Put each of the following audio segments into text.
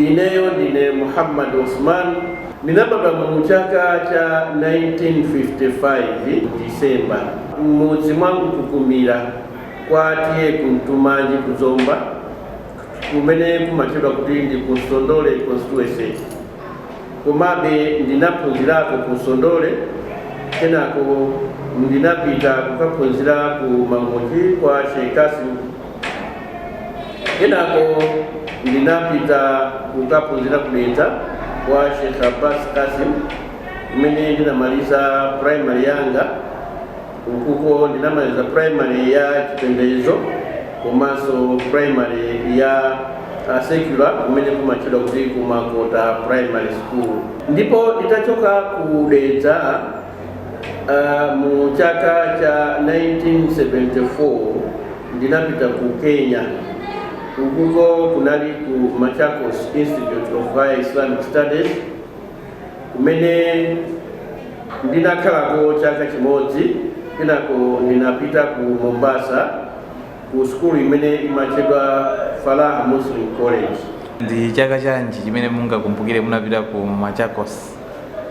Ineyo ndine Muhammad Usman, ndinabadwa mu chaka cha 1955 mu December, m'mudzi mwa Mkukumira kwa T/A Kuntumanji ku Zomba kumene kumatchedwa kuti ndi ku Nsondole Constituency. Komabe ndinaphunzirako ku Nsondole, kenako ndinapita kukaphunzira ku Mangochi kwa Sheikh Kasim, kenako ndinapita kukaphunzira ku Dedza kwa Sheikh Abbas Kasim kumene ndinamaliza primary yanga. Ukuko ndinamaliza primary ya chipembedzo komanso primary ya uh, secular kumene kumatchedwa kuti ku makota primary school ndipo nditachoka ku dedza uh, mu chaka cha 1974 ndinapita ku kenya ukuko kunali ku machakos institute of high islamic studies kumene ndinakhalako chaka chimodzi kenako ndinapita ku mombasa ku sukulu imene imatchedwa falah muslim college ndi chaka chanji chimene mungakumbukire munapita ku machakos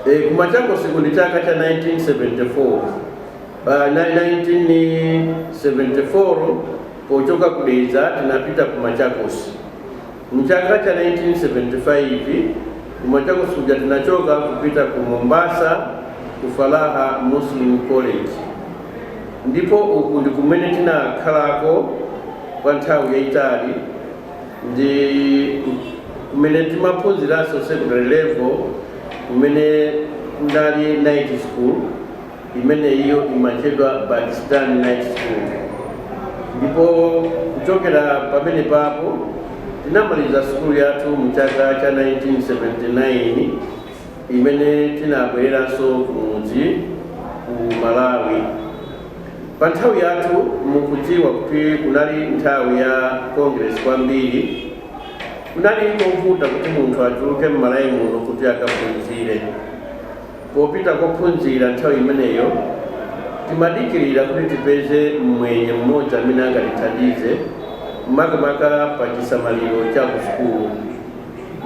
e, ku machakos ndi chaka cha 1974 1974 pochoka ku dedza tinapita ku machakos M'chaka cha 1975 ku Machakos kuja tinachoka kupita ku Mombasa ku Falah Muslim College ndipo uku ndi kumene tinakhalako kwa nthawi yayitali ndi kumene timaphunziranso secondary level kumene kunali night school. imene iyo imatchedwa Pakistan Night School, ndipo kuchokera pamenepapo tinamaliza sukulu yathu mu chaka cha 1979 imene tinabwereranso kumudzi ku Malawi. Pa nthawi yathu mukudziwa kuti kunali nthawi ya Congress kwambiri, kunali kovuta kuti munthu atuluke m'Malawi muno kuti akaphunzire. Popita kophunzira nthawi imeneyo, timadikirira kuti tipeze mmwenye mmodzi amene angatithandize, makamaka pa chisamaliro cha ku sukulu.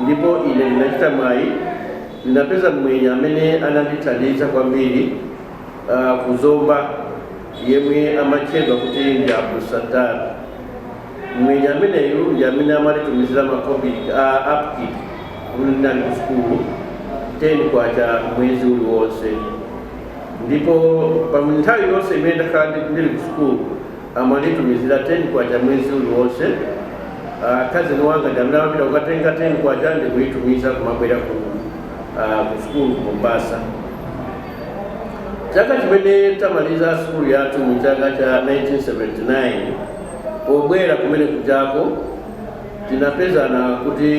Ndipo ine ndinachita mwayi, ndinapeza mmwenye amene anandithandiza kwambiri ku Zomba yemwe amatchedwa kuti ndi Abdusattar. Mmwenye ameneyo ndi amene amatitumizila makobiri a upkeep mmene ndinali ku sukulu, K10 mwezi uliwonse. Ndipo pa nthawi yonse imene ndakhala ndili ku sukulu amanditumizila K10 mwezi uliwonse. A cousin wanga ndi amene amapita kukatenga K10 ndikuitumiza kumabwera ku sukulu ku Mombasa. Chaka chimene tamaliza sukulu yathu mu chaka cha 1979, Pobwera kumene kujako tinapezana kuti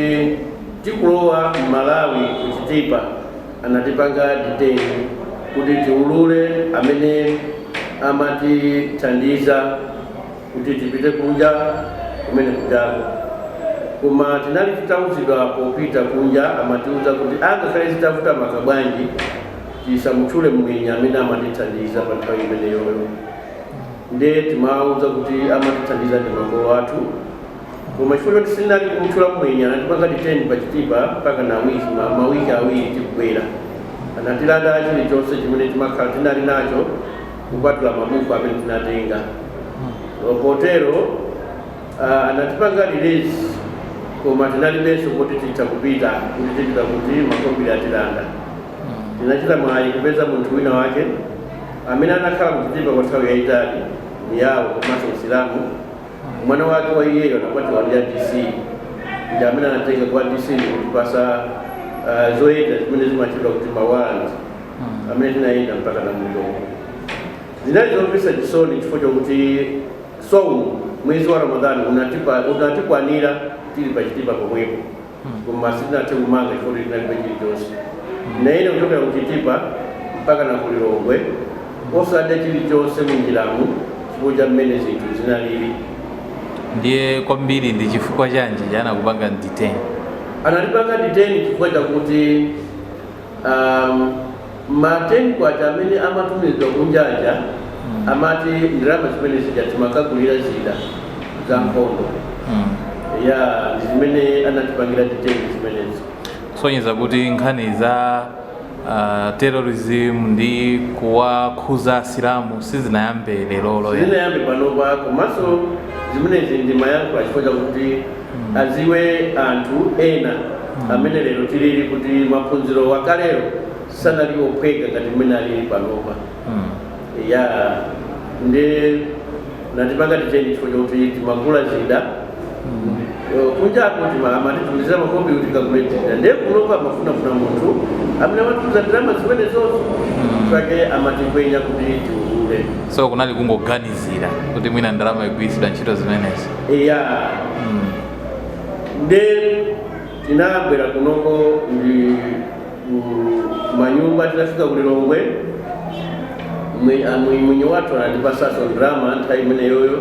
tikulowa m'Malawi ku Chitipa anatipanga detain kuti tiulule amene amatithandiza kuti tipite kunja kumene kujako koma tinali titauzidwa popita kunja amatiuza kuti angakhale zitavuta maka bwanji tisamutchule mwenye amene amatithandiza pa nthawi imeneyoyo nde timawauza kuti amatithandiza ndi makolo athu koma chifukwa choti sitinali kumutchula mwenye anatipanga detain pa Chitipa mpaka na wiki ma- mawiki awiri tikubwera anatilanda chilichonse chimene timakhala tinali nacho kupatula mabuku amene tinatenga potero ah, anatipanga release koma tinalibeso kuti titha kupita kuti tipita kuti makobiri atilanda Tinachita mwayi kupeza munthu wina wake amene anakhala ku Chitipa kwa nthawi yayitali, Muyao komanso Msilamu. Mwana wake wa iyeyo anakwatiwa ndi a DC ndi amene anatenga kwa DC ndikutipasa uh, zoyenda zimene zimatchedwa kuti ma warrant amene tinayenda mpaka na ku Lilongwe. Zinali zomvetsa chisoni chifukwa chakuti mwezi wa Ramadhani unatipa- unatikwanira tili pa Chitipa pomwepo. koma sitinathe kumanga chifukwa kuti tinalibe chilichonse tinayenda kuchokera ku Chitipa mpaka na ku Lilongwe osadya chilichonse munjiramu chifukwa cha mmene zinthu zinalili. Ndiye kwambiri ndi chifukwa chanji anakupanga detain? Anatipanga detain chifukwa chakuti Um, ma 10 kwacha amene amatumizwa kunja aja mm. amati ndalama zimene zija timakagulira zida za nkhondo mm. ya chimene anatipangira detain chimenechi kusonyeza kuti nkhani za uh, terrorism ndi kuwakhuza asilamu sizinayambe lero sizinayambe panopa komanso zimenezi ndi mayankho achifukwa chakuti adziwe anthu ena amene lero tilili kuti maphunziro akalero sanali ophweka ngati mmene alili panopa ya ndiye anatipanga detain chifukwa chakuti timagula zida Eh, kunjako amatitumizira makobiri tikagule zida ndiye kunopa amafunafuna munthu amene amatumiza ndalama zimenezo nchifukwa chake amatikwenya kuti tiulule so kunali kungoganizira kuti mwina ndalama ikugwiritsidwa ntchito zimenezi eya nde tinabwera kunoko ndi ku- manyumba tinafika ku lilongwe Mwi- a- mwi- mwenye wathu anatipasaso ndrama nthawi imeneyoyo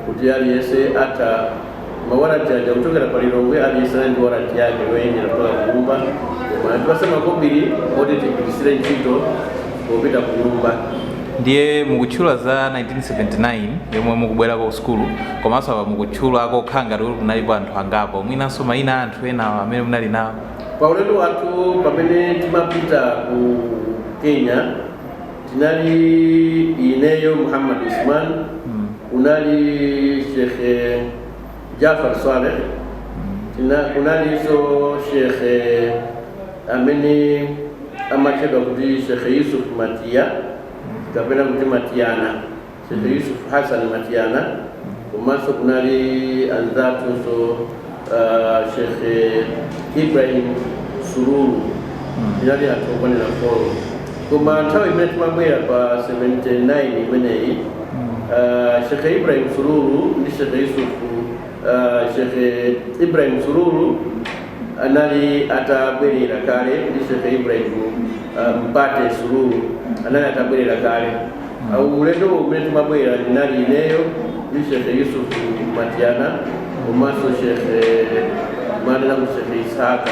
kuti aliyense atha mawarati aja kuchokera pa lilongwe aliyense anali ndi warati yake yoyendera kupita kunyumba koma anatipasa makobiri oti tigwirisire ntchito popita kunyumba. Ndiye mukutchula za 1979 yomwe mukubwerako ku sukulu komanso apa mukutchulako kukhala ngati kuti kunalipo anthu angapo mwinanso mayina a anthu enawo amene munali nawo pa ulendo wathu pamene timapita ku kenya tinali ineyo muhammad usman kunali shekhe Jafar Saleh tina kunalinso shekhe amene amatchedwa kuti shekhe Yusuf Matiya kapena kuti Matiyana shekhe Yusuf Hassan Matiyana komanso kunali anzathunso uh, shekhe Ibrahim Sururu tinali anthu okwanira folo koma nthawi imene timabwera pa 79 imeneyi uh, shekhe ibrahim sululu ndi shekhe yusuf uh, shekhe ibrahim sururu anali atabwerera kale ndi shekhe ibrahim uh, mpate sururu anali atabwerera kale Awu ulendo umene timabwera ndinali ineyo ndi Shehe Yusuf Matiana komanso Shehe Jumane na Shehe Ishaka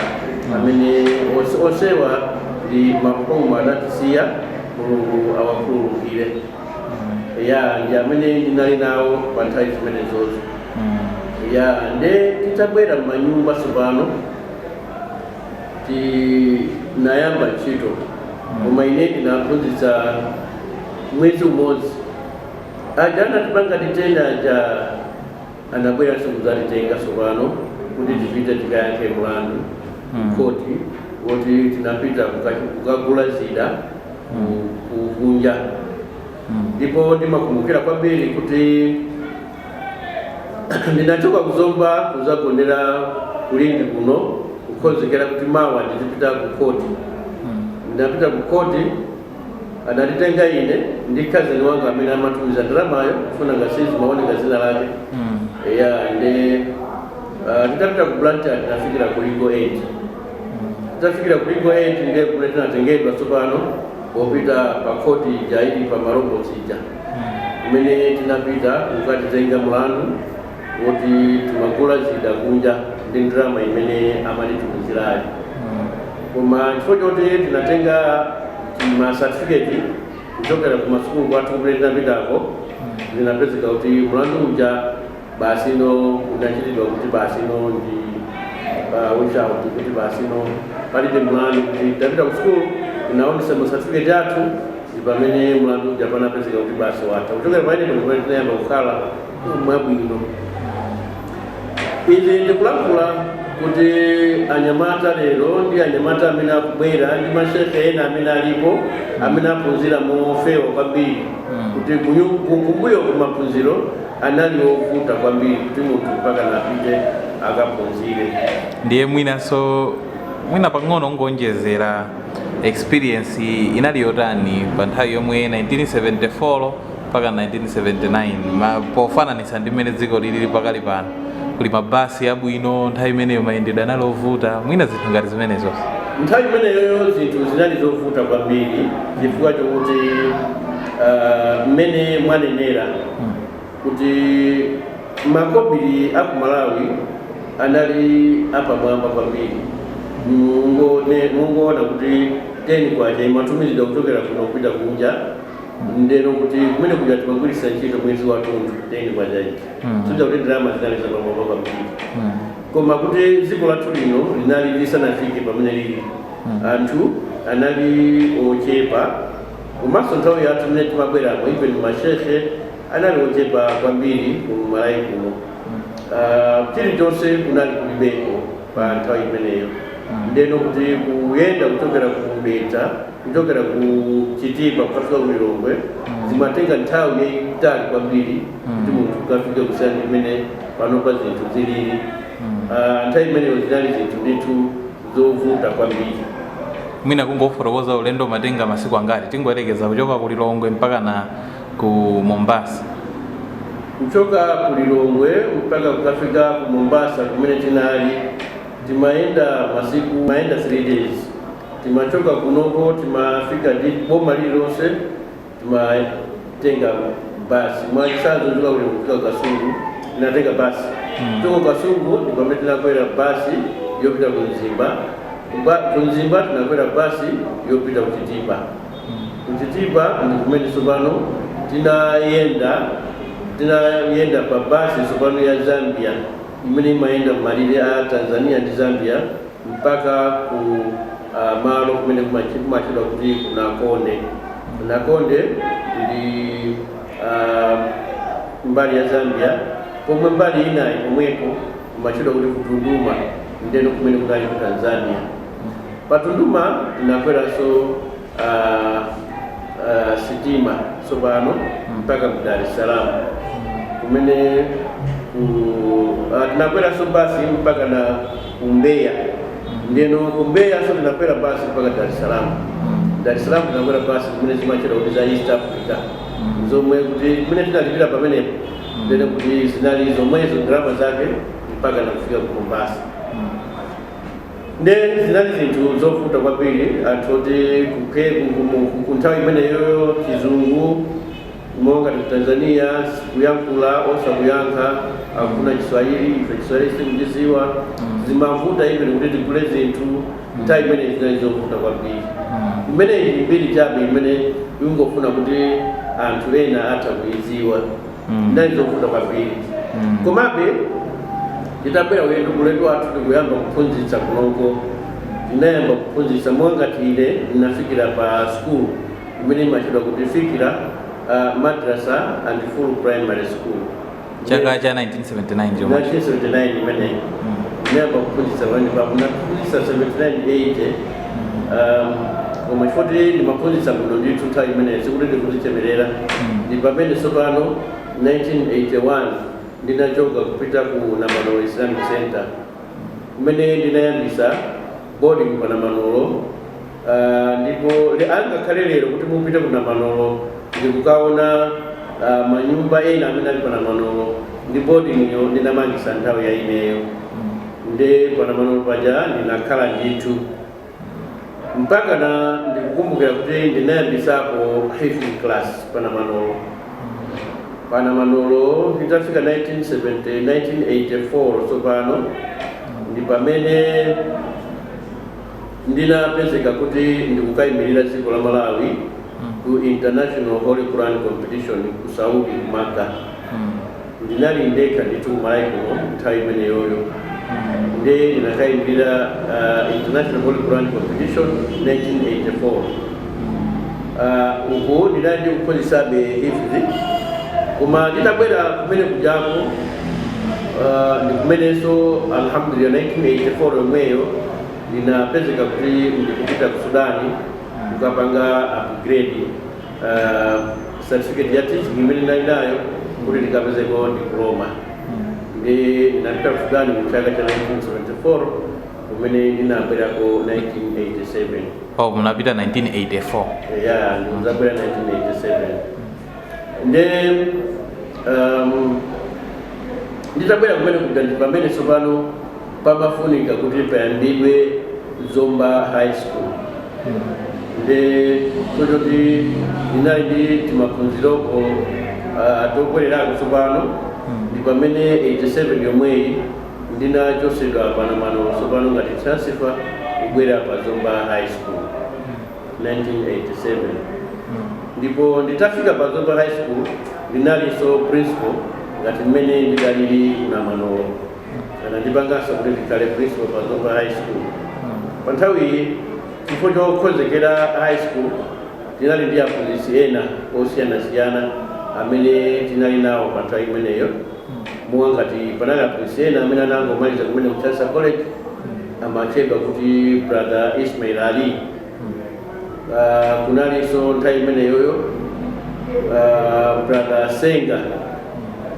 amene onse- onsewa ndi marhumu anatisiya Mulungu awakhululukire. Ya ndi amene ndinali nawo pa nthawi zimenezozo. Ya nde titabwera m'manyumba tsopano Tinayamba ntchito koma ine ndinaphunzitsa mwezi umodzi. Aja anatipanga detain aja anabweranso kudzatitenga tsopano kuti tipite tikayankhe mlandu kukhoti woti tinapita kuka- kukagula zida ku- ku- kunja ndipo ndimakumbukira kwambiri kuti Ndinachoka ku Zomba kuzagonera ku Lindi kuno kukhonzekera kuti mawa ndizipita ku khoti. Ndinapita ku khoti anatitenga ine ndi cousin wanga amene amatumiza ndalamayo chifukwa sizimaoneka dzina lake. Eya nde ah, titapita ku Blantyre tinafikira ku legal aid. Titafikira ku legal aid nde kumene tinatengedwa tsopano popita pa khoti ija ili pa maloboti ija. kumene tinapita kukatizenga mlandu woti timagula zida kunja ndi ndalama imene amatitumizirayo koma chifukwa choti tinatenga ma certificate kuchokera ku masukulu kwathu kumene tinapitako zinapezeka kuti mlandu uja basi no unachitidwa kuti basi no ndi uh, which out kuti basi no palibe mlandu kuti tapita ku sukulu tinaonesa ma certificate athu ndi pamene mlandu uja panapezeka kuti basi watha kuchokera pamene pamene tinayamba kukhala mwabwino izi ndikulankhula kuti anyamata lero ndi anyamata amene akubwera ndi mashekhe ena amene alipo amene aphunzira mofewa kwambiri kuti kunyu- ku- kumbuyo kumaphunziro anali ovuta kwambiri kuti munthu mpaka na apite akaphunzire. Ndiye mwinanso mwina pang'ono kungoonjezera experience inali yotani pa nthawi yomwe 1974 mpaka 1979 ma, pofananitsa ndi mmene dziko lilili pakali pano kuli mabasi abwino nthawi imeneyo mayendedwe anali ovuta mwina zinthu ngati zimenezo nthawi imeneyoyo zinthu zinali zovuta kwambiri chifukwa chokuti ah, mmene mwanenera kuti makobili aku malawi anali apamwamba kwambiri Mungone- mungoona kuti 10 kwacha imatumizidwa kuchokera kuno kupita kunja ndeno kuti kumene kuja timagwiritsa ntchito mwezi wathunthu 10 kwacha ija Mhm. soja kuti ndalama zinali zapamwamba kwambiri Mm. koma kuti dziko lathu lino linali lisanafike pamene lili anthu anali ochepa Komanso nthawi yathu imene timabweramo even mashekhe anali ochepa kwambiri ku Malawi kuno Ah, chilichonse kunali kulibeko pa nthawi imeneyo ndeno kuti kuyenda kuchokera ku Dedza kuchokera ku Chitipa kukafika ku Lilongwe zimatenga nthawi yayitali kwambiri kuti munthu ukafike kusiyana ndi mmene panopa zinthu zilili Ah, nthawi imeneyo zinali zinthu ndithu zovuta kwambiri. mwina kungofotokoza ulendo umatenga masiku angati tingoyerekeza kuchoka ku lilongwe mpaka na ku mombasa kuchoka ku lilongwe mpaka kukafika ku mombasa kumene tinali timayenda masiku timayenda 3 days timachoka kunoko timafika boma lililonse timatenga basi mwachitsanzo ndimabwera kufika kasungu tinatenga basi kuchoka kasungu ndipamene tinakwera basi yopita ku mzimba Ba- ku mzimba tinakwera basi yopita ku chitipa ku chitipa ndi kumene tsopano tinayenda tinayenda pa basi tsopano ya zambia imene imayenda m'malire a tanzania ndi zambia mpaka ku a, malo kumene kumachi- kumatchedwa kuti ku Nakonde. Nakonde ndi a, mbali ya Zambia pomwe mbali inayo komweko kumatchedwa kuti ku Tunduma ndeno kumene kunali ku Tanzania. Pa Tunduma tinakweranso a a sitima tsopano mpaka ku Dar es Salaam kumene ku ah, tinakweranso basi mpaka na ku Mbeya ndeno ku Mbeya so tinakwera basi mpaka Dar es Salaam Dar es Salaam tinakwera basi kumene zimatchedwa kuti za East Africa zomwe kuti kumene tinalipira pamenepo ndene kuti zinali zomwezo ndalama zake mpaka nakufika ku Mombasa Nde zinali zinthu zovuta kwambiri anthu oti ku Ke- ku- ku- mu- ku- ku nthawi imeneyoyo chizungu monga ngati ku tanzania sikuyankhula osakuyankha akufuna chiswahili ife chiswahili sikuchiziwa zimavuta even kuti tigule zinthu nthawi imeneyi zinali zovuta kwambiri imeneyi ndi mbiri chabe imene ndingofuna kuti anthu ena atha kuiziwa zinali zovuta kwambiri komabe titabwera ulendo ulendo wathu tikuyamba kuphunzitsa kunoko ndinayamba kuphunzitsa monga ngati ine ndinafikira pa school imene imatchedwa kuti fikira uh, madrasa and full primary school chaka cha 1979 chomwe 1979 imeneyi ndinayamba kuphunzitsa pamene papo ndinaphunzitsa 79 80 Um, koma chifoti ndimaphunzitsa bwino ndithu nthawi imeneyo sikuti ndikuzichemerera ndi pamene tsopano 1981 ndinachoka kupita ku namanolo islamic center kumene ndinayambisa boarding pa namanolo Ah, ndipo le- angakhale lero kuti mupite ku namanolo ndikukaona ah, manyumba ena amene ali pa namanolo ndi boarding yo ndinamangisa nthawi ya ineyo Nde panamanolo paja ndinakhala ndithu mpakana ndikukumbukira kuti ndinayambisako hifzi class panamanolo panamanolo nditafika 1970 1984 tsopano ndi pamene ndinapezeka kuti ndikukayimirira dziko la malawi ku international holy quran competition ku saudi ku maka ndinali ndekha ndithu kumalawiko nthawi imeneyoyo nde ndinakayimirira uh, international holy quran competition 1984 uh, uku ndinali ndi kuphunzisabe hifzi koma nditabwera kumene kujako uh, ndikumenenso alhamdulillah 1984 yomweyo ndinapezeka kuti ndikupita ku sudani kukapanga upgrade ah, certificate ya teaching imene ndinali nayo kuti ndikapezeko diploma ndi ndinapita ku Sudan mu chaka cha 1974 kumene ndinabwerako 1987 oh munapita 1984 ya ndikuzabwera 1987 nde um, nditabwera kumene kuja ndi pamene tsopano pamafunika kuti payambidwe Zomba High School nde so choti ndinali ndi timaphunziroko atokwererako tsopano ndi pamene 87 yomweyi ndinachosedwa pa Namanolo tsopano ngati transfer kubwera pa Zomba High School 1987 ndipo nditafika pa Zomba High School ndinalinso principal ngati mmene ndidalili Namanolo anandipanganso kuti ndikhale principal pa zomba high school pa nthawiyi chifukwa chokonzekera high school tinali ndi aphunzitsi ena osiyanasiyana amene tinali nawo pa nthawi imeneyo monga ngati panali aphunzitsi ena amene anangomaliza kumene ku Chancellor college amatchedwa kuti brother ismail ali Ah, kunalinso nthawi imeneyoyo ah, brother senga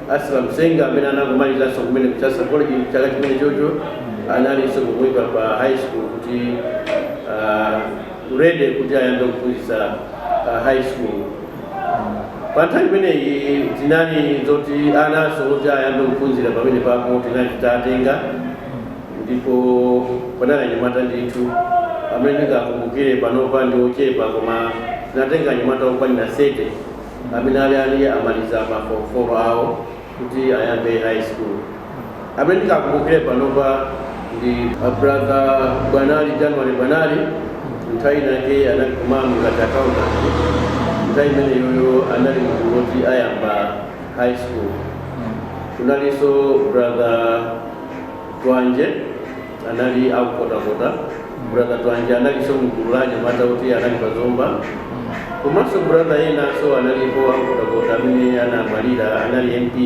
aslam senga amene anangomalizanso kumene ku Chancellor college chaka chimene chocho analinso kumwika pa high school kuti ah, ready kuti ayambe kuphunzitsa ah, high school pa nthawi imeneyi tinali zoti ananso kuti ayambe kuphunzira pamene papo tinali titatenga ndipo panali anyamata ndithu amene ndingakumbukire panopa ndi ochepa koma tinatenga anyamata okwanira 30 amene ali ali amaliza ma form 4 awo kuti ayambe high school amene ndingakumbukire panopa ndi brother bwanali january bwanali nthawi inake anali ku MAM ngati accountant nthawi imeneyoyo anali munthu woti ayamba high school kunalinso brother Twanje anali aku Nkhotakota. Brother Twanje analiso mgulu la anyamata oti anali pa Zomba. Komanso brother enaso analipo aku Nkhotakota amene anamwalira anali MP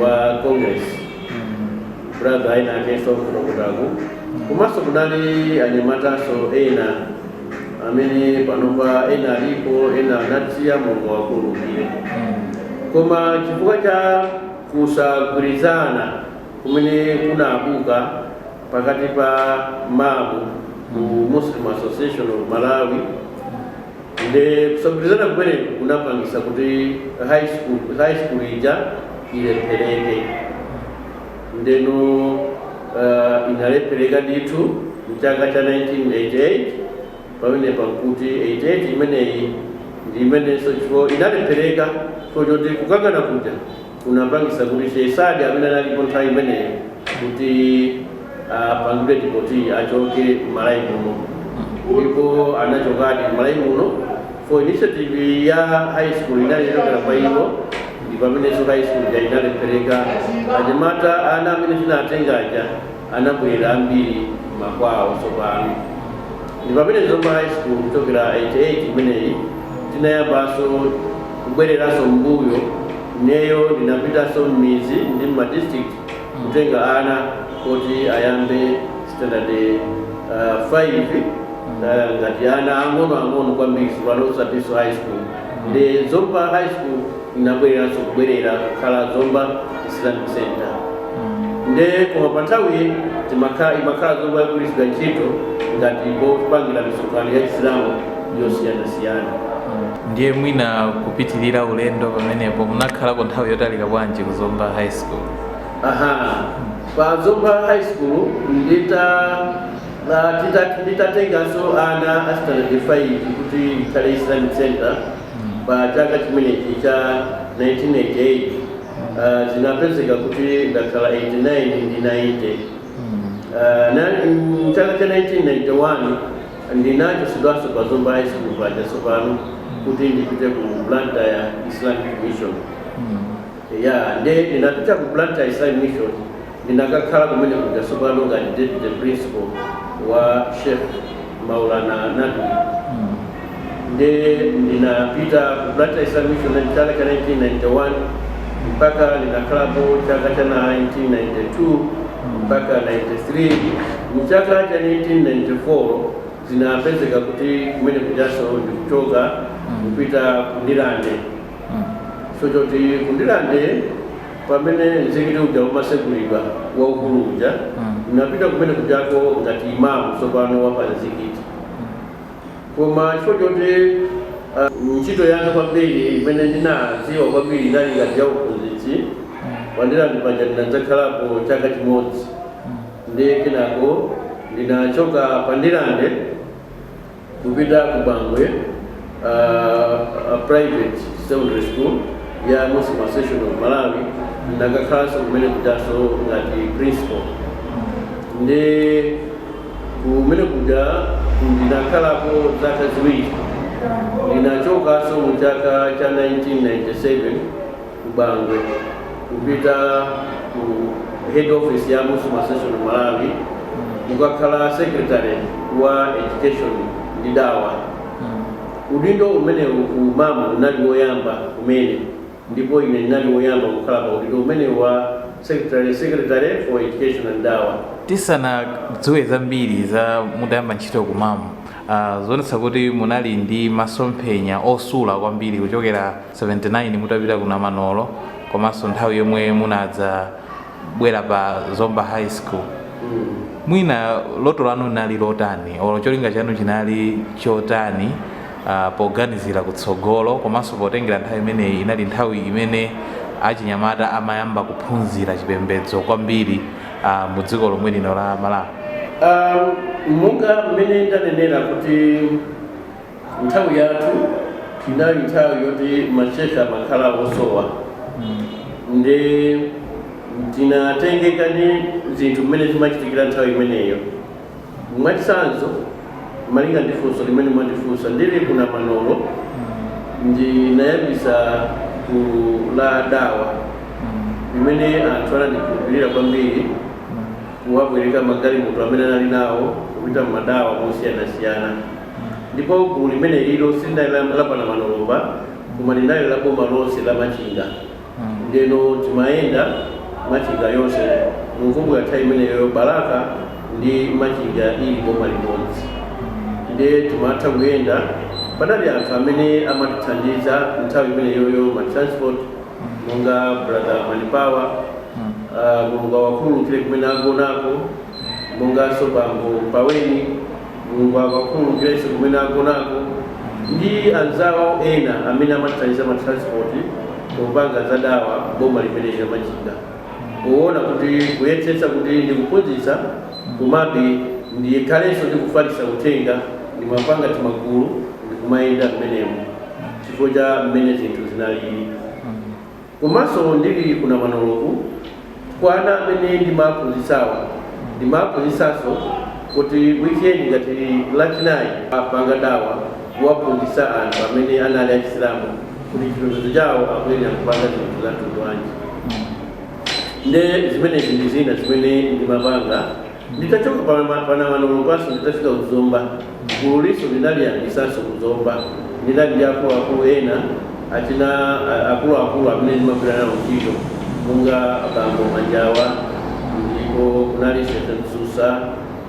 wa Congress. Brother ena akeso aku Nkhotakotako. Komanso kunali anyamataso ena amene panopa ena alipo ena anatisiya Mulungu awakhululukire. Koma chifukwa cha kusagwirizana kumene kunabuka pakati pa MAM ku Muslim Association of Malawi nde kusagwirizana kumeneku kunapangisa kuti high school ija ilephereke ndeno uh, inalephereka ndithu mchaka cha 1988 pamenepa nkuti 88 imeneyi ndi imenenso chifo inalephereka so choti kukangana kuja kunapangitsa kuti Sheikh Saad amene analipo nthawi imeneyo kuti apangidwe deport achoke m'Malawi muno ndipo anachokadi m'Malawi muno chifo initiative ya high school inali yochokera kwa iwo ndi pamenenso high school ja inalephereka anyamata ana amene tinatenga aja anabwera ambiri m'makwawo tsopano. Ndi pamene Zomba High School kuchokera 88 imeneyi tinayambanso kubwereranso m'mbuyo ineyo ndinapitanso m'midzi ndi m'ma district kutenga ana oti ayambe standard 5 ngati ana ang'onoang'ono kwambiri tsopano osatinso high school nde Zomba High School. inabwereranso kubwerera kukhala zomba islamic center nde koma pa nthawi imakhala zomba yogwiritsidwa ntchito ngati popangira misonkhano ya chisilamu yosiyanasiyana ndiye mwina kupitirira ulendo pamenepo munakhalako nthawi yotalika bwanji ku zomba high school aha pa zomba high school ndita la- tita- nditatenganso ana a standard 5 kuti ikhale islamic center Pa chaka chimenechi cha 1988 zinapezeka kuti ndakhala 89 ndi 90. Mchaka cha 1991 ndinachosedwanso pa Zomba High School paja tsopano kuti ndipite ku Blantyre Islamic Mission. Ya, nde ndinapita ku Blantyre Islamic Mission Ndinakakhala kumene kuja tsopano ngati deputy principal wa Sheikh Maulana Nadwi nde ndinapita ku Blantyre Islamic Mission mchaka cha 1991 mpaka ndinakhalapo chaka cha 1992 mpaka 93 mchaka cha 1994 zinapezeka kuti kumene kujaso ndikuchoka kupita ku Ndirande so choti ku Ndirande Pamene mzikiti uja umasegulidwa waukulu uja ndinapita kumene kujako ngati imamu tsopano wa pa mzikiti koma chifukwa choti uh, ntchito yanga kwambiri imene ndinadziwa kwambiri inali ngati ya uphunzitsi pa Ndirande paja ndinadzakhalapo chaka chimodzi ndiye kenako ndinachoka pa Ndirande kupita ku Bangwe uh, private secondary school ya Muslim Association of Malawi ndakakhalanso kumene kujaso ngati principal nde kumene kuja ndinakhalapo zaka ziwiri ndinachokaso mu chaka cha 1997 ku Bangwe kupita ku head office ya Muslim Association of Malawi kukakhala secretary wa education ndi dawa udindo umenewu ku MAM unali woyamba kumene ndipo ine ndinali woyamba kukhala pa udindo umenewu wa secretary secretary for education and dawa tisanadziwe zambiri za mutayamba ntchito ku MAM uh, zikuonetsa kuti munali ndi masomphenya osula kwambiri kuchokera 79 mutapita ku Namanolo komanso nthawi yomwe munadzabwera pa Zomba High School mwina loto lanu linali lotani olo cholinga chanu chinali chotani uh, poganizira kutsogolo komanso potengera nthawi imeneyi inali nthawi imene achinyamata amayamba kuphunzira chipembedzo kwambiri uh, mu dziko lomwe lino la Malawi um, monga mmene ndanenera kuti Nthawi yathu inali nthawi yoti mashekhe amakhala osowa nde tinatengeka ndi zinthu mmene zimachitikira nthawi imeneyo mwachitsanzo malinga ndi funso limene mwandifunsa ndili ku Namanolo ndinayambisa gulu la dawa limene anthu anandikhulupirira kwambiri kubwereka magalimoto amene anali nawo kupita mmadawa mosiyanasiyana Ndipo gulu limenelilo silinali la, la pa Namanolo basi, koma linali la boma lonse la Machinga. Ndeno timayenda Machinga yonse, mukukumbukira nthawi imeneyoyo Balaka ndi Machinga inali boma limodzi. Nde timatha kuyenda, panali anthu amene amatithandiza nthawi imeneyoyo ma transport monga brother Manipawa, ah, Mulungu awakhululukire kumene agonako, monganso bambo Mpaweni. Mulungu awakhululukirenso kumene agonako ndi anzawo ena amene amathandiza ma transport popanga za dawa boma limeneli la machinga powona kuti kuyesetsa kuti ndikuphunzitsa komabe ndikhalenso ndikufalitsa uthenga ndimapanga timagulu ndikumayenda m'menemo chifukwa cha m'mene zinthu zinalili. Komanso ndili ku Namanoloko, kwa ana amene ndimaaphunzitsawa, ndimaaphunzitsanso kuti weekend ngati lachinayi apanga dawa kuwaphunzitsa anthu amene anali achisilamu kuti chipembedzo chawo akuyenela kupanga zinthu za mtundu wanji. Nde zimenezi ndi zina zimene ndimapanga. Nditachoka pa pa Namanolo paja nditafika ku Zomba gululinso ndinaliyambisanso ku Zomba ndinali ndi akuluakulu ena achina akuluakulu amene ndimagwira nawo ntchito monga bambo Manjawa ndipo kunali Sheikh Msusa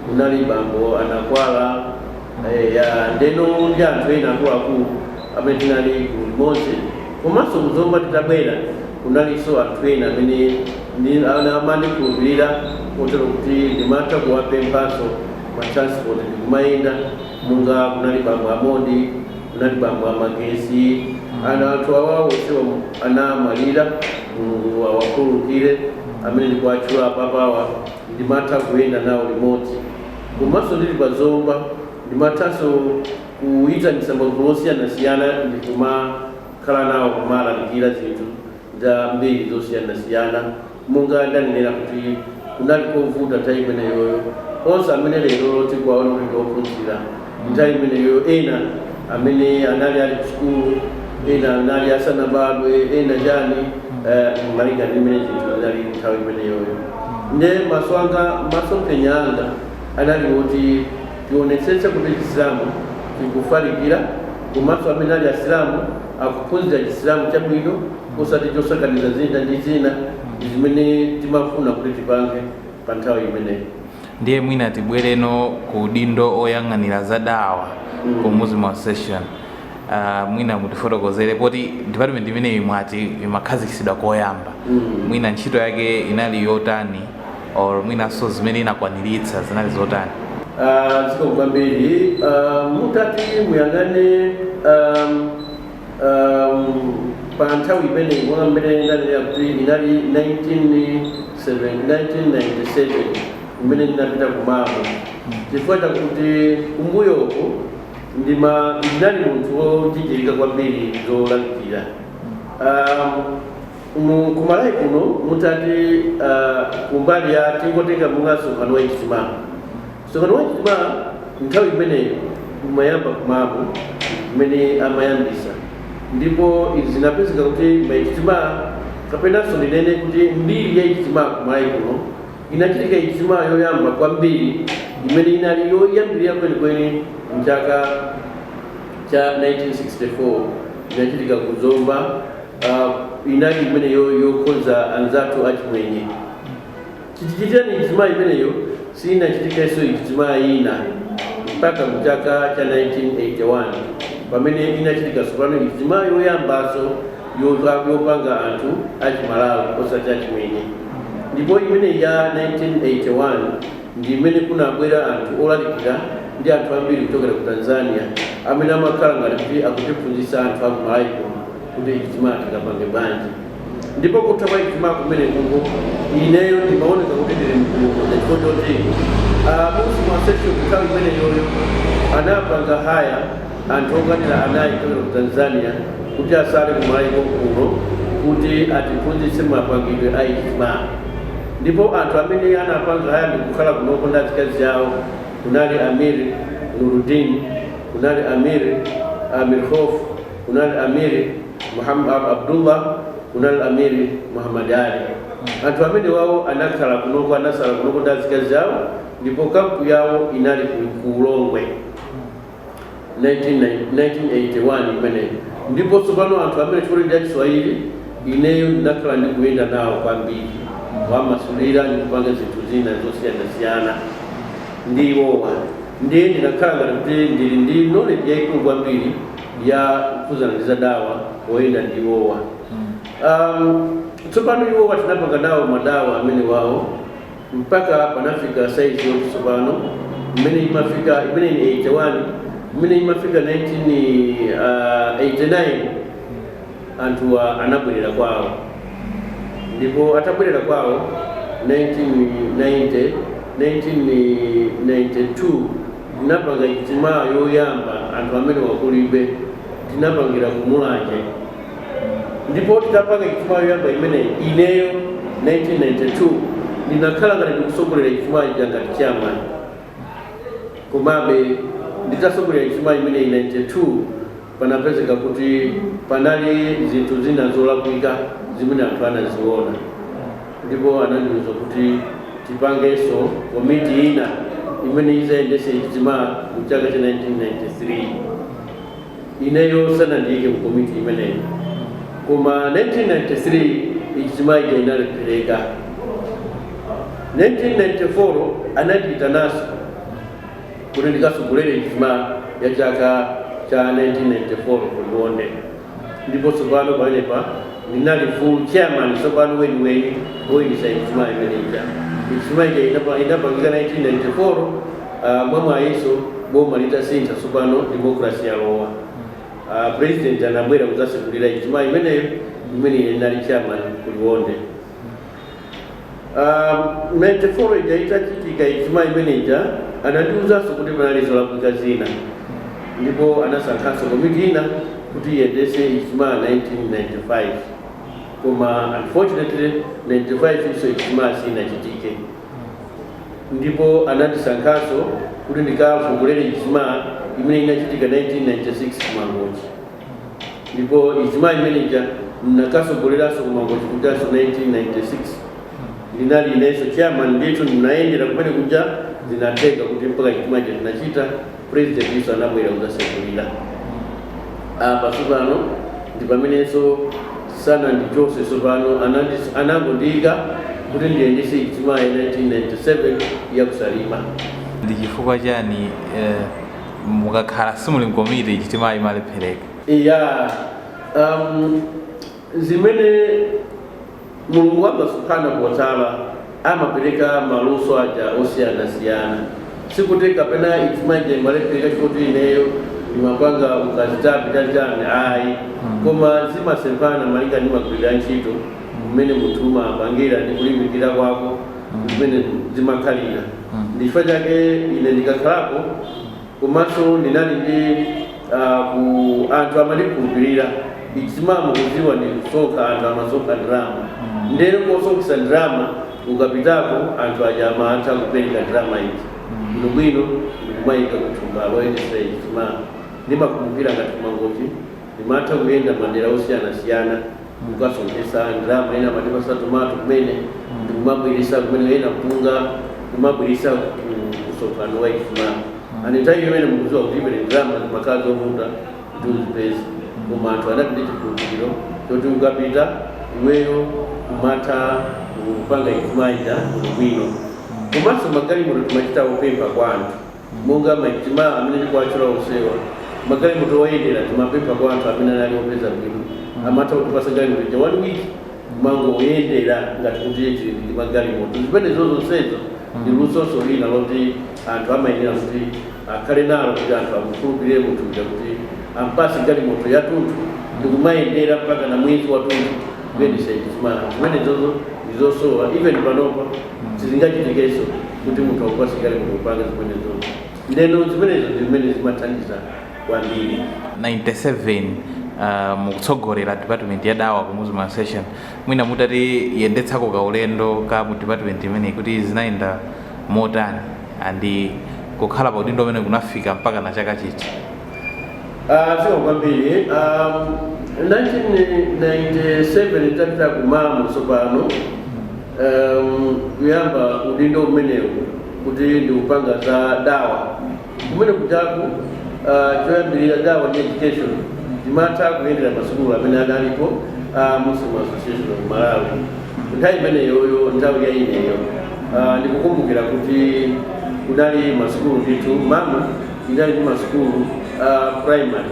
kunali bambo a Nakwala eya ndeno ndi anthu ena akuluakulu amene tinali gulu limodzi komanso ku Zomba titabwera kunalinso anthu ena amene Ena amene amandikhulupirira kotero kuti ndimatha kuwapemphanso ma transport ndikumayenda monga kunali bambo a Mondi kunali bambo a Magesi ana anthu awa onsewa anamwalira Mulungu awakhululukire amene ndikuwatchula apapawa ndimatha kuyenda nawo limodzi komanso ndili pa Zomba ndimathanso kuyitanitsa magulu osiyanasiyana ndikumakhala nawo kumalalikira zinthu zambiri zosiyanasiyana. Monga ndanenera kuti kunali kovuta nthawi imeneyoyo, onse amene lerolo tikuwaona kuti ndi ophunzira, nthawi imeneyoyo ena amene anali ali ku sukulu, ena anali asanabadwe, ena chani, eh, malinga ndi mmene zinthu zinalili nthawi imeneyoyo. Nde maso anga, masomphenya anga anali oti tionetsetse kuti Chisilamu chikufalikira komanso amene ali Asilamu, akuphunzira Chisilamu chabwino osati chosakaniza zina ndi zina ndi zimene timafuna kuti tipange pa nthawi imeneyo. ndiye mwina tibwereno ku udindo oyang'anira za dawa mm. ku Muslim Association uh, mwina mutifotokozere poti department imeneyi mwati imakhazikitsidwa koyamba mm. mwina ntchito yake inali yotani or mwinanso zimene inakwaniritsa zinali zotani Ah, zikomo kwambiri Ah, mutati muyang'ane um, um, pa nthawi imeneyi monga mmene ndanenera kuti inali 1997 imene ndinapita ku MAM chifukwa chakuti kumbuyoku ndima ndinali munthu wojijirika kwambiri zolalikira um, Mu ku Malawi kuno mutati uh, kumbali ya tingotenga monga msonkhano wa ijtima msonkhano wa ijtima nthawi imeneyo umayamba ku MAM imene amayambisa ndipo izi zinapezeka kuti maijtima kapenanso ndinene kuti mbiri ya ijtima ku Malawi kuno inachitika ijtima yoyamba kwambiri imene inali yoyambirira kwenikweni mchaka cha 1964 inachitika ku Zomba uh, inali imene yokonza anzathu achimwenye chichitikireni ijtima imeneyo siinachitikenso ijtima ina mpaka mu chaka cha 1981 pamene inachitika tsopano ijtima yoyambanso yopa- yopanga anthu achimalawi osati achimwenye ndipo imene ya 1981 ndi imene kunabwera anthu olalikira ndi anthu ambiri kuchokera ku tanzania amene amakhala ngati kuti akutiphunzitsa anthu aku Malawi kuno kuti ijtima tikapange bwanji ndipo kutha kwa ijtima kumene kungo ineyo ndimaoneka kuti ndili mkulukuza chifukwa choti abusi masesio kunthawi imeneyoyo anapanga haya anthu okwanira anayi kuchokera ku tanzania kuti asale kumalawi kuno kuti atiphunzitse mapangidwe a ijtima ndipo anthu amene anapanga haya ndikukhala kunoko ndi azikazi awo kunali amir nurudin kunali amir khof kunali Amir Muhammad Abdullah, kunali Amir Muhammad Ali. Anthu amenewawo anakhala kunoko, anasala kunoko ndi azikazi awo ndipo kampu yawo inali ku ku Ulongwe 1990 1981 imeneyi. Ndipo tsopano anthu amene chifukwa ndi achiswahili ineyo ndinakhala ndikuyenda nawo kwambiri kuwamasulira ndi kupanga zinthu zina zosiyanasiyana ndi iwowa ndiye ndinakhala ngati kuti ndili ndi knowledge yayikulu kwambiri ya kukhudzana ndi za dawa oyenda ndi iwowa um, tsopano iwowa tinapanga nawo madawa amenewawo mpaka panafika saizi yoti tsopano mmene imafika imeneyi 81 mmene imafika 1989 anthuwa anabwerera kwawo ndipo atabwerera kwawo 1990 1992 Tinapanga ijtimaa yoyamba anthu amenewa kulibe, tinapangira ku Mulanje ndipo titapanga ijtimaa yoyamba imeneyi, ineyo 1992 ndinakhala ngati ndikutsogolera ijtimaa ija ngati chairman komabe nditatsogolera ijtimaa imeneyi 92, panapezeka kuti panali zinthu zina zolakwika zimene anthu anaziona ndipo anandiuza kuti tipangenso komiti ina imene idzayendetse Ijtima mu chaka cha 1993. Ineyo sanandiike mu komiti imeneyi koma 1993 Ijtima ija inalephereka. 1994 anandiitananso. kuti ndikatsogolere ijtima ya chaka cha 1994 ku Liwonde ndipo tsopano pamenepa ndinali full chairman tsopano weniweni woyendetsa ijtima imene ija ijtima ija inapa- inapangika 1994 ah, mwamwayinso boma litasintha tsopano democracy yalowa Ah, president anabwera kudzasegulira ijtima imeneyo imene ine ndinali chairman ku Liwonde Um, 94 ija itachitika ijtima imene ija anandiwuzanso kuti panali zolakwika zina ndipo anasankhanso komiti ina kuti iyendetse ijtima 1995 koma unfortunately 95 yonso ijtima sinachitike ndipo anandisankhanso kuti ndikatsogolere ijtima imene inachitika 1996 mangochi ndipo ijtima imeneija ndinakasogoleraso kumangochi kujaso 1996 ndinali ineso chairman ndithu ndinayendera kumene kuja zinatheka kuti mpaka ijtima ija tinachita president iso anabwera kuzasegulira apa tsopano ndi pamenenso sanandichose tsopano anandi- anangondiyika kuti ndiyendese ijtima ya 1997 yakusalima ndi chifukwa chani eh, mukakhala simuli mkomiti ijtimayo imalephereka ya um, zimene mulungu wanga subhanahu wa ta'ala amapereka maluso aja osiyanasiyana sikuti kapena ijtima ija imalephereka chifukwa choti ineyo ndimapanga ukazitape tachani ayi koma zimasemphana malinga ndi magwirira ntchito mmene munthu umapangira ndi kulimbikira kwako ndi mmene zimakhalira. Ndi chifukwa chake ine ndikakhalapo komanso ndinali ndi ah, ku anthu amandikhulupirira ijtima mukudziwa ndi kusonkha anthu amasonkha ndalama ndeno kosonkhetsa ndalama ukapitako anthu aja amatha kupereka ndalama izi bwinobwino ndikumayika kuthumba loyendetsa ijtima ndimakumbukira ngati kumangochi ndimatha kuyenda madera osiyanasiyana kukasonkhesa ndalama ena amatipasa tomato kumene ndikumabweresa kumene ena mpunga kumabweresa kusonkhano wa ijtima and nthawi imene mukuziwa kuti imene ndalama zimakhala zovuta kuti uzipeze koma anthu anali ndi chikhulupiriro choti ukapita iweyo umatha kupanga ijtima ija bwino komanso magalimoto timachita kupempha kwa anthu Monga ma ijtima amene tikuwatchula onsewa, ma galimoto oyendera timapempha kwa anthu amene anali opeza bwino, amatha kutipatsa galimoto ija 1 week kumangoyendera ngati kuti tili ndi ma galimoto. Zimenezo zonsezo ndi lusonso lina loti anthu amayenera kuti akhale nalo kuti anthu amukhulupilire munthu uja kuti ampatse galimoto yathunthu ndikumayendera mpakana mwezi wathunthu, kuyendetsa ijtima. Zimenezozo ndizosowa even panopa. sizingachitikenso kuti munthu akupase galimoto kupanga zimenezo ndeno zimenezo ndi zimene zimathandiza kwambiri 97 uh, mukutsogolera department ya dawa ku Muslim Association mwina mutatiyendetsako ka ulendo ka mu department imeneyi kuti zinayenda motani and kukhala pa udindo umene kunafika mpaka na chaka chiti Ah, zikomo kwambiri um, 1997 tapita ku MAM tsopano um, kuyamba udindo umenewu kuti ndikupanga za dawa kumene kujaku uh, choyambirira dawa ndi education ndimatha kuyendera masukulu amene adalipo a muslim association of malawi nthawi imeneyoyo nthawi ya ineyo uh, ndikukumbukira kuti kunali masukulu ndithu MAM inali ndi masukulu uh, primary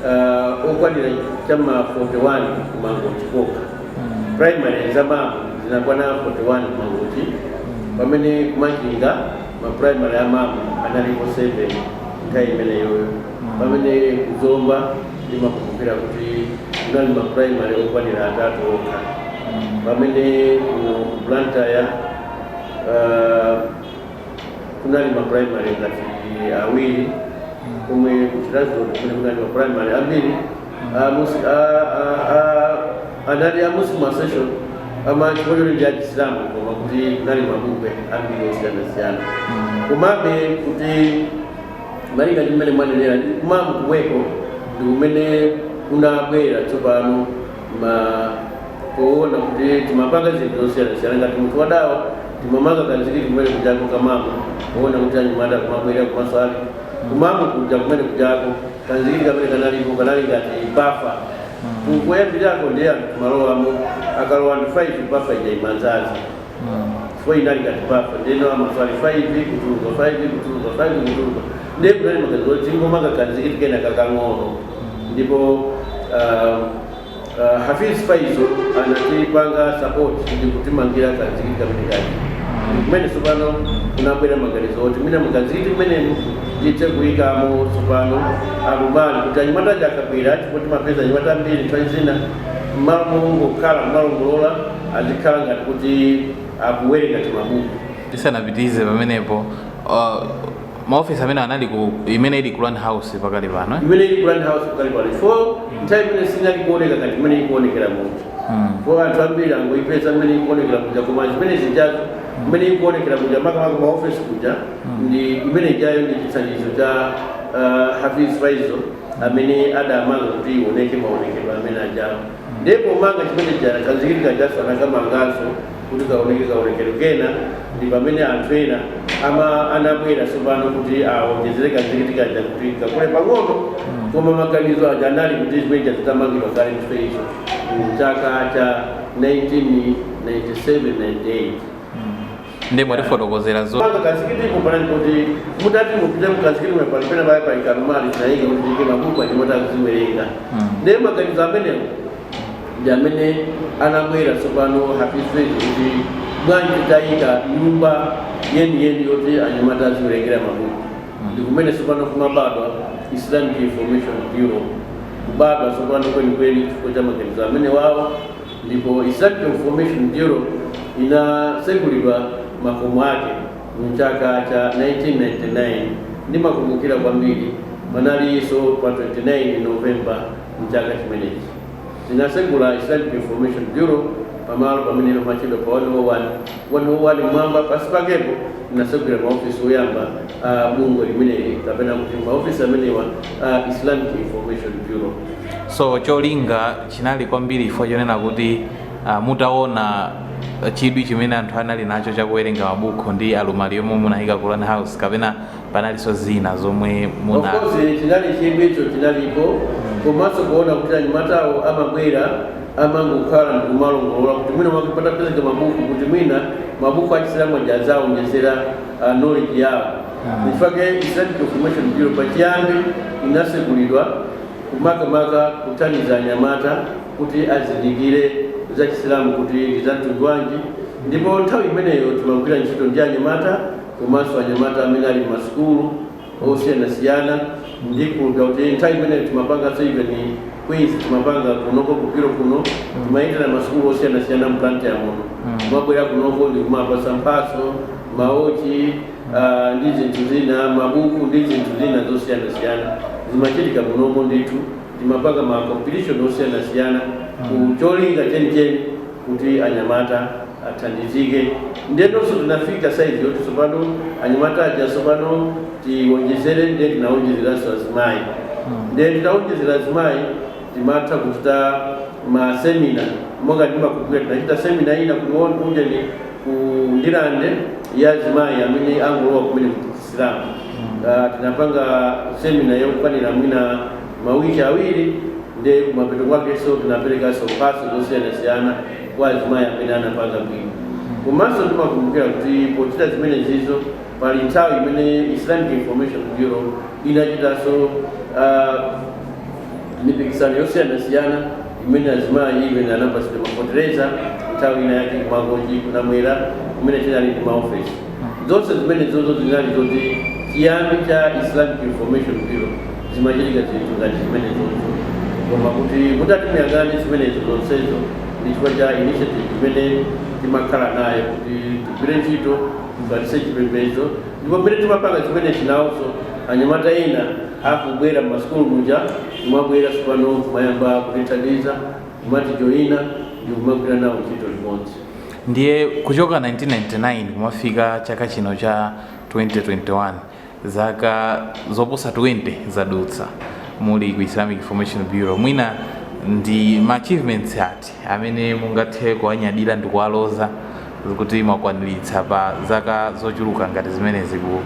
uh, okwanira cha ma 41 kumangochi kokha mm. primary za MAM zinakwana 41 kumangochi mm. pamene kumachinga maprimary a MAM analipo 7 nthawi imeneyoyo mm. pamene kuzomba ndimakumbukira kuti kunali maprimary okwanira atatu okha pamene ku blantyre uh, kunali ma primary ngati awiri kumwe kuchiradzulu kunali ma primary ambiri a Mus- a- a- a- anali a muslim association amachikoyo ndi achisilamu koma kuti kunali mabungwe ambiri osiyanasiyana komabe kuti malinga ndi mmene mwanenera ndi ku MAM komweko ndi kumene kunabwera tsopano ma kuona kuti timapanga zinthu zosiyanasiyana ngati munthu wadawa timamanga kanzikiti kumene kujako ku MAM kuona kuti anyamata kumabwera kumaswali ku MAM kuja kumene kujako kanzikiti kamene kanalipo kanali ngati bafa koyambirirako ndiye anthu kumalowamo akalowa ndi 5 bafa ija imadzaza Chifukwa inali ngati bafa ndeno amaswali 5 kutuluka 5 kutuluka 5 kutuluka ndiye kunali maganizo oti tingomanga kanzikiti kena kakang'ono ndipo ah, ah, Hafiz Faizo anatipanga support ndi kutimangira kanzikiti kamene kaja kumene tsopano kunabwera maganizo oti mwina mukanzikiti kumenemu tithe kuyikamo tsopano alumali kuti anyamata aja akabwera chifukwa timapeza anyamata ambiri nthawi zina mmalo mongokhala kumalongolola azikhala ngati kuti akuwerenga timabuku tisanapitirize pamenepo uh, maofisi amene anali ku imene ili ku Land House pakali pano eh? imene ili ku Land House pakali pano fo nthawi imene sinali kuoneka ngati imene ikuonekera munthu mm. fo anthu ambiri angoipeza imene ikuonekera kuja koma zimene zijazo mm. imene ikuonekera kuja makamaka maofisi kuja mm. ndi imene ijayo ndi chithandizo cha uh, Hafiz Faizo amene adamanga kuti ioneke maonekedwe amene ajawo Ndiye pomanga chimene chija ndi kanzikiti kajanso anakamanganso kuti kaoneke kaonekero kena, ndi pamene anthu ena ama anabwera tsopano kuti awonjezere kanzikiti kaja kuti kakule pang'ono, koma maganizo aja anali kuti chimene chija chitamangidwa kale mchifukwa chake mu chaka cha 1997, 98. ndiye mwatifotokozera zopanga kanzikiti kupanga kuti mutati mupite mukanzikiti mwe pali pena baya pali kaalumali zaidi muyike mabuku anyamata kuziwerenga. Mm. Ndiye maganizo amene ndi amene anabwera tsopano Hafiz kuti bwanji tayika nyumba yeni yeni yoti anyamata aziwerengera mabuku. Ndi kumene tsopano kumabadwa Islamic Information Bureau kubadwa tsopano kwenikweni chifukwa cha maganizo amenewawo ndipo Islamic Information Bureau inatsegulidwa makomo ake mu chaka cha 1999, ndimakumbukira kwambiri panalinso pa 29 November mchaka chimenechi tinatsegula Islamic Information Bureau pamalo pamene pamatchedwa pa 101 m'mwamba pansi pakepo tinatsegulira ma office oyamba a bungwe limeneli kapena kuti ma office amenewa a Islamic Information Bureau. So cholinga chinali kwambiri chifukwa chonena kuti uh, mutaona chidwi chimene anthu anali nacho chakuwerenga mabuku mu alumali yomwe munayika ku Quran House kapena panalinso zina zomwe muna of course chinali chidwicho chinalipo komanso kuona kuti anyamatawo amabwera amangokhala ndikumalongolola kuti mwina mwake patapezeka mabuku kuti mwina mabuku achisilamu aja azaonjezera uh, knowledge yawo n'chifukwa chake islamic information bureau pachiyambi inatsegulidwa makamaka kuthandiza anyamata kuti azindikire za Chisilamu kuti ndi za mtundu wanji, ndipo nthawi imeneyo timagwira ntchito ndi anyamata komanso anyamata amene ali m'masukulu osiyanasiyana ndikuti nthawi imeneyo timapanganso even quiz timapanga kunoko ku Bureau kuno timayendera masukulu osiyanasiyana mu Blantyre muno kumabwera kunoko ndi kumapasa mphatso maochi ah, ndi zinthu zina mabuku ndi zinthu zina zosiyanasiyana zimachitika munomo ndithu timapanga ma competition osiyanasiyana ku cholinga chenicheni kuti anyamata athandizike ndiyenonso tinafika saizi yoti tsopano anyamata aja tsopano tiwonjezere nde tinawonjezeranso azimayi nde titawonjezera azimayi timatha kuchita masemina monga ndimakumbukira tinachita semina ina ku ujeni ku ndirande ya azimayi amene angolowa kumene ku chisilamu Ah, tinapanga semina yokwanira mwina mawiki awiri nde kumapeto kwakenso tinaperekanso mphatso zosiyanasiyana kwa azimayi amene anapanga bwino komanso timakumbukira kuti pochita zimenezizo pali nthawi imene islamic information bureau inachitanso ah, Mipikisano yosiyanasiyana imene azimayi even anapatsidwa ma fetereza nthawi ina yake ku Mangochi ku Namwera kumene tinali ndi maofesi zonse zimenezozo zinali zoti chiyambi cha Islamic Information Bureau zimachitika zinthu ngati zimenezozo koma kuti mutati muyang'ane zimenezo zonsezo ndi chifukwa cha initiative imene timakhala nayo kuti tigwire ntchito tifalitse chipembedzo ndipo mmene timapanga zimenezi nawonso anyamata ena akubwera m'masukulu muja kumabwera tsopano kumayamba kutithandiza kumatijoina ndikumagwira nawo ntchito limodzi. Ndiye kuchoka 1999 kumafika chaka chino cha 2021 zaka zoposa 20 zadutsa muli ku Islamic Information Bureau, mwina ndi ma achievements ati amene mungathe kuwanyadira ndi kuwaloza kuti mwakwaniritsa pa zaka zochuluka ngati zimenezi ku-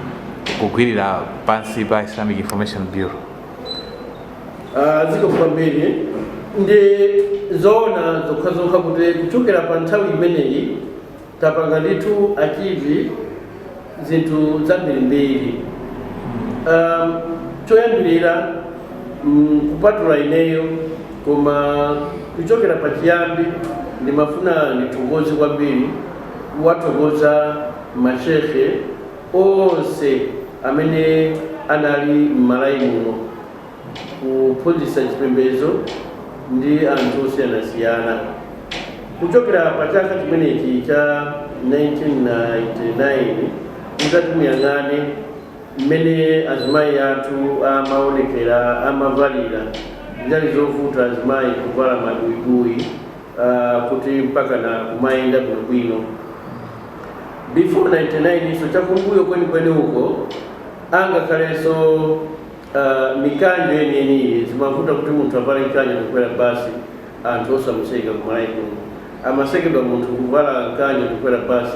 kugwirira pansi pa Islamic Information Bureau? Ah, zikomo kwambiri ndi zoona zokhazokha kuti kuchokera pa nthawi imeneyi Tapanga ndithu achieve zinthu zambirimbiri. Um, choyambirira mm, kupatula ineyo koma kuchokera pachiyambi ndimafuna ndithokoze kwambiri kuwathokoza mashehe onse amene anali m'Malawi muno kuphunzitsa chipembedzo ndi anthu osiyanasiyana kuchokera pa chaka chimenechi cha 1999 mutati muyang'ane mmene azimayi athu amaonekera amavalira zinali zovuta azimayi kuvala mabuibui ah, kuti mpaka na kumayenda bwinobwino before 99 hiso chakumbuyo kwenikweni uko angakhalenso Aaa mikanjo yeniyeniyi zimavuta kuti munthu avale mkanjo kukwera bus anthu osamuseka kumalawi kuno amasekedwa munthu kuvala mkanjo kukwera bus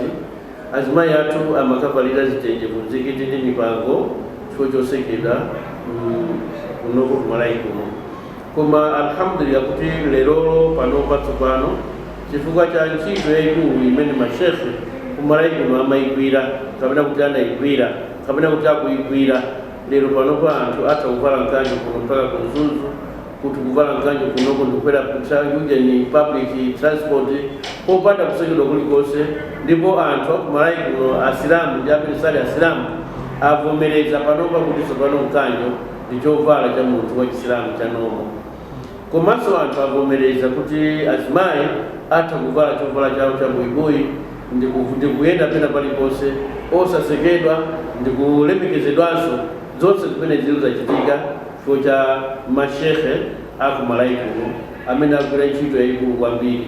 azimayi athu amakavalira zitenje ku mzikiti ndi mipango chifukwa chosekedwa mm kunoko kumalawi kuno koma alhamdulillah kuti lerolo panopa tsopano chifukwa cha ntchito yaikulu imene ma sheikh kumalawi kuno amaigwira kapena kuti anaigwira kapena kuti akuigwira Lero panopa anthu atha kuvala mkanjo kuno mpaka ku Mzuzu, kuti kuvala mkanjo kunoko ndikukwera ptsa ujeni public transport popanda kusekedwa kulikonse ndipo anthu aku Malawi kuno asilamu ndi amene sali asilamu avomereza panopa kuti tsopano mkanjo ndi chovala cha munthu wa chisilamu cha normal. Komanso anthu avomereza kuti azimayi atha kuvala chovala chawo cha buibui ndi ndi kuyenda pena paliponse osasekedwa ndi kulemekezedwanso, zonse zimenezitu zachitika chifukwa cha ma Shekhe a ku Malawi kuno amene agwira ntchito yaikulu kwambiri.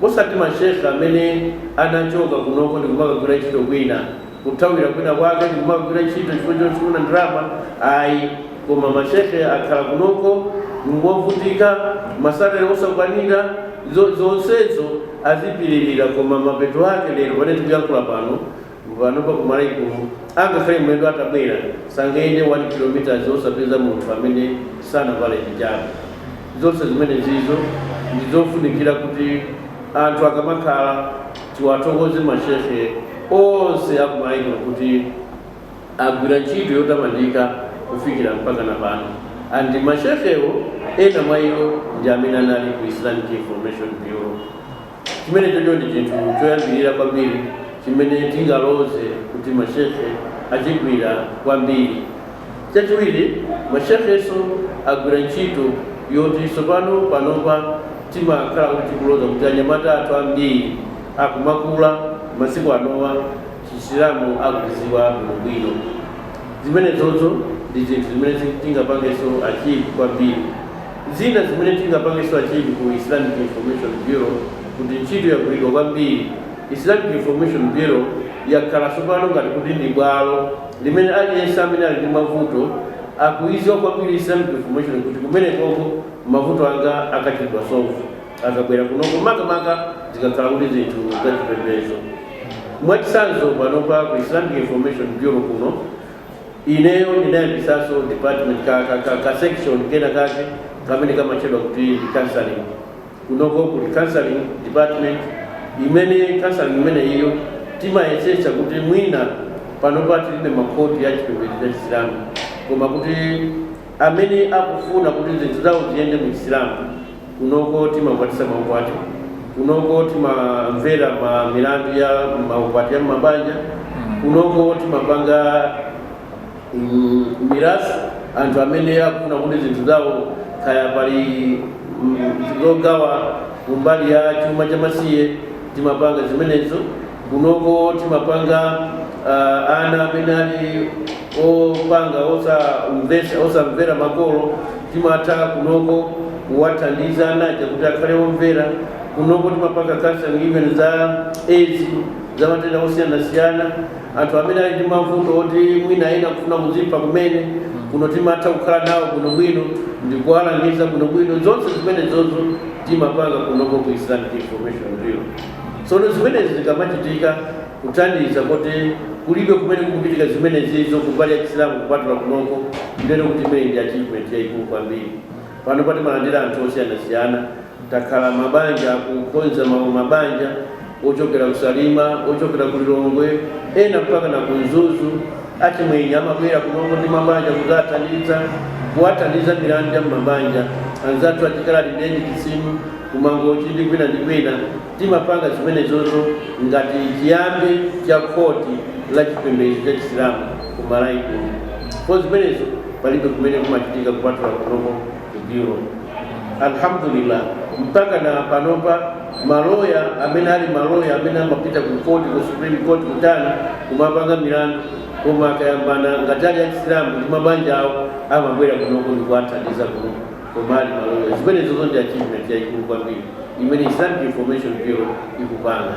Osati ma Sheikh amene anachoka kunoko ndikumakagwira ntchito kwina, kuthawira kwina kwake ndikumakagwira ntchito chifukwa chofuna ndalama ayi, koma ma Sheikh akhala kunoko ngovutika, ma salary osakwanira, zo zonsezo azipirira koma mapeto ake lero pamene tikuyankhula pano Panopa ku Malawi kuno angakhale mlendo atabwera sangayende 1 km osapeza munthu amene sanavale hijabu. Zonse zimenezizo ndi zofunikira kuti anthu akamakhala tiwathokoze ma shehe onse a ku Malawi kuno kuti agwira ntchito yotamandika kufikira mpakana pano and ma shehewo ena mwa iwo ndi amene anali ku Islamic Information Bureau. Chimenechocho ndi chinthu choyambirira kwambiri chimene tingaloze kuti mashekhe achigwira kwambiri. Chachiwiri, mashekhenso agwira ntchito yoti tsopano panopa timakhala kuti tikuloza kuti anyamata athu ambiri akumakula masiku anowa Chisilamu akuchidziwa bwinobwino. Zimenezozo ndi zinthu zimene tingapangenso achieve kwambiri. Zina zimene tingapangenso achieve ku Islamic Information Bureau kuti ntchito yagwiridwa kwambiri. Islamic Information Bureau yakhala tsopano ngati kuti ndi bwalo limene aliyense amene ali ndi mavuto akuiziwa kwambiri Islamic Information kuti kumenekoko mavuto anga akachitidwa solve akabwera kunoko makamaka zikakhala kuti zinthu zachipembezo. Mwachitsanzo panopa ku Islamic Information Bureau kuno. ineyo ndinayambisaso department ka ka ka ka section kena kake kamene kamatchedwa kuti ndi counseling kunoko kuli counseling department imene counseling imeneyiyo timayetsetsa kuti mwina panopa tilibe makhoti a chipembedzo cha chisilamu koma kuti amene akufuna kuti zinthu zawo ziyende mu chisilamu kunoko timakwatisa maukwati kunoko timamvera ma milandu ya maukwati ya mabanja kunoko timapanga mm, mirasi anthu amene akufuna kuti zinthu zawo kaya pali mm, zogawa kumbali ya chuma cha masiye timapanga zimenezo kunoko timapanga uh, ana amene ali opanga osamvera makolo timatha kunoko kuwathandiza anaja kuti akhale omvera kunoko timapanga counseling even za aids za matenda osiyanasiyana anthu amene ali ndi mavuto oti mwina ena kufuna kuzipha kumene kuno timatha kukhala nawo bwinobwino ndi kuwalangiza bwinobwino zonse zimenezozo timapanga kunoko ku islamic information bureau Tsono zimenezi zikamachitika, kunthauza kuti kulibe kumene kukuchitika zimenezizo ku mbali ya Chisilamu kupatula kunoko, ndiyeno kuti imeneyi ndi achievement yaikulu kwambiri. Panopa timalandira anthu osiyanasiyana. Takhala mabanja akukonza ma mabanja ochokera ku Salima, ochokera ku Lilongwe, ena mpakana ku Mzuzu. Achimwenye amabwera kunoko ndi mabanja kudzawathandiza, kuwathandiza milandu ya m'mabanja. Anzathu achikaladi eni Chisilamu. kumangochi ndi kwina ndi kwina, timapanga zimenezozo ngati chiyambi cha khoti la chipembedzo cha Chisilamu ku Malawi kuno chifukwa zimenezo palibe kumene kumachitika kupatula kunoko ku Bureau. Alhamdulillah, mpaka na panopa maloya amene ali maloya amene amapita ku court ku Supreme Court kutani kumapanga milandu koma akayambana ngati ali a Chisilamu ndi mabanja awo amabwera kunoko ndikuwathandiza kunoko. koma ali maloya. Zimenezozo ndi achievement yaikulu kwambiri imene Islamic Information Bureau ikupanga.